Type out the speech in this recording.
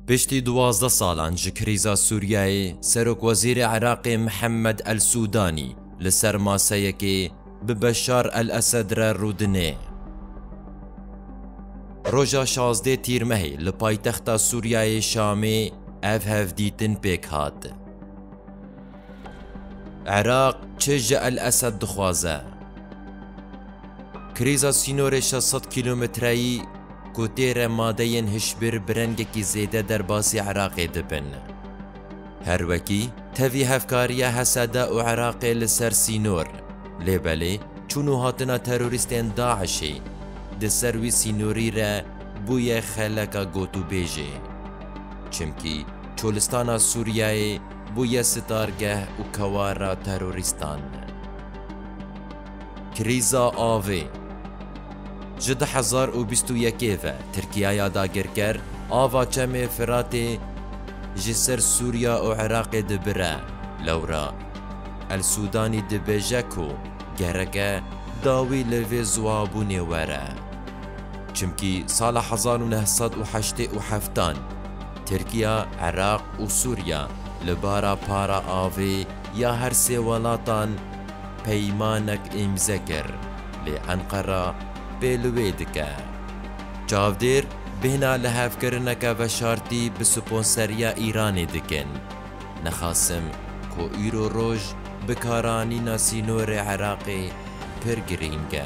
Piştî duwazdeh salan ji krîza Sûriyeyê, serokwezîrê Iraqê Mihemed El Sûdanî li ser maseyekê bi Beşar El Esed re rûdine. Roja şazdeh Tîrmehê li paytexta Sûriyeyê Şamê ev hevdîtin pêk hat. Iraq çi ji El Esed dixwaze? Krîza sînorê şeş sed kîlometreyî ku tê re madeyên hişbir bi rengekî zêde derbasî Iraqê dibin. Her wekî tevî hevkariya Hesede û Iraqê li ser sînor, lê belê çûn û hatina terorîstên DAIŞ'ê di ser wî sînorî re bûye xeleka gotûbêjê. Çimkî Çolistana Sûriyeyê, Bûye sitargeh û kewara terorîstan. Krîza avê, Ji du hezar û bîst û yekê ve Tirkiyaya dagirker ava Çemê Firatê ji ser Sûriya û Iraqê dibire, lewra El Sudanî dibêje ku gereke dawî li vê ziwabûnê were. Çimkî sala hezar û neh sed û heştê û heftan, Tirkiya, Iraq û Sûriya li bara para avê ya her sê welatan peymanek îmze kir, lê Enqera pê li wê dike. Çavdêr bêhna lihevkirineke veşartî bi sponseriya Îranê dikin. Nexasim ku îro roj bikaranîna sînorê Iraqê pir girîng e.